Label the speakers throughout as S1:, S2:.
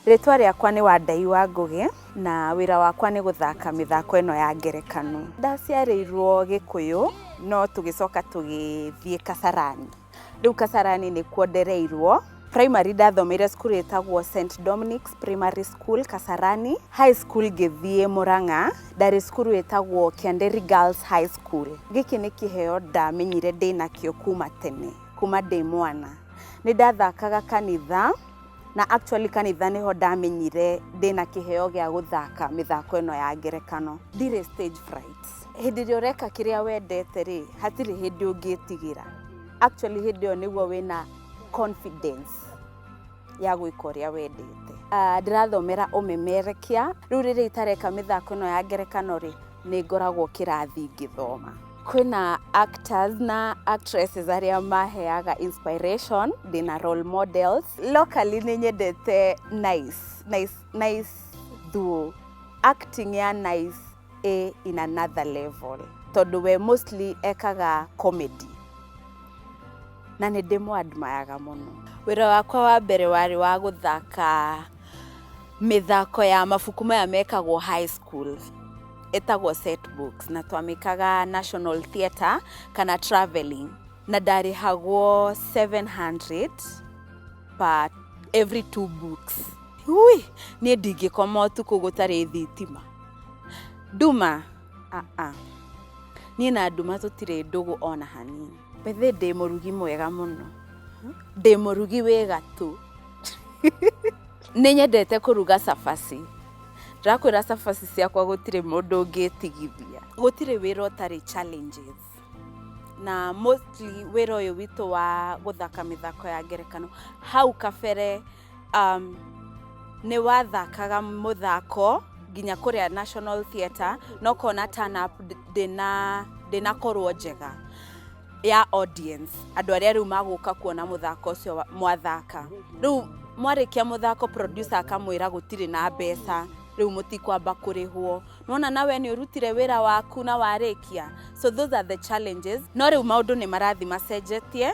S1: Rĩtwa rĩakwa nĩ Wandai wa Ngũgĩ na wĩra wakwa nĩ gũthaka mĩthako ĩno ya ngerekano. Ndaciarĩirwo Gĩkũyũ no tũgĩcoka tũgĩthiĩ Kasarani. Rĩu Kasarani nĩkuo ndereirwo. Primary ndathomeire cukuru ĩtagwo St Dominics Primary School Kasarani. High school ngĩthiĩ Mũrang'a. Ndarĩ cukuru ĩtagwo Kĩanderi Girls High School. Gĩkĩ nĩ kĩheo ndamenyire ndĩnakĩo kuma tene, kuma ndĩ mwana. Nĩ ndathakaga kanitha, na actually kanitha nĩho ndamenyire ndĩna kĩheo gĩa gũthaka mĩthako ĩno ya ngerekano. Ndirĩ stage fright. Hĩndĩ ĩrĩa ũreka kĩrĩa wendete rĩ, hatirĩ hĩndĩ ũngĩtigĩra. Actually hĩndĩ ĩyo nĩguo wĩna confidence. ya gwĩka ũrĩa wendete Ah, ndĩrathomera ũmemerekia rĩu rĩrĩa itareka mĩthako ĩno ya ngerekano rĩ nĩ ngoragwo kĩrathi ngĩthoma kwĩna actors na actresses arĩa maheaga inspiration ndĩna role models locally nĩ nyendete nice nice nice duo acting ya nice ĩ in another level tondũ we mostly ekaga comedy na nĩ ndĩmũ admire mũno wĩra wakwa wa mbere warĩ wa gũthaka mĩthako ya mabuku maya mekagwo high school ĩtagwo set books na twamĩkaga national theatre kana traveling na ndarĩhagwo 700 per every two books ui niĩ ndingĩkoma ũtukũ gũtarĩ thitima nduma aa niĩ na nduma tũtirĩ ndũgũ ona hanini bethe ndĩ mũrugi mwega mũno ndĩ mũrugi wĩ gatũ nĩ nyendete kũruga cabaci ndakwĩra cabaci ciakwa gũtirĩ mũndũ ũngĩtigithia gũtirĩ wĩra ũtarĩ challenges na mostly wĩra ũyũ witũ wa gũthaka mĩthako ya ngerekano hau kabere um, nĩ wathakaga mũthako nginya kũrĩa National Theatre no kona turn up ndĩna ndĩnakorwo njega ya audience andũ arĩa rĩu magũka kuona mũthako ũcio mwathaka rĩu mwarĩkia mũthako producer akamwĩra gũtirĩ na mbeca rĩu mũtikwamba kũrĩhwo nona nawe nĩ ũrutire wĩra waku na warĩkia so those are the challenges no rĩu maũndũ nĩ marathi macenjetie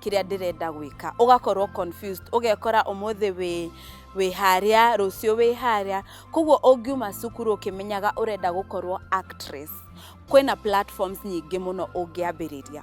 S1: kĩrĩa ndĩrenda gwĩka ũgakorwo confused ũgekora ũmũthĩ wĩ wĩ harĩa rũciũ wĩ harĩa koguo ũngiuma cukuru ũkĩmenyaga ũrenda gũkorwo actress kwĩna platforms nyingĩ mũno ũngĩambĩrĩria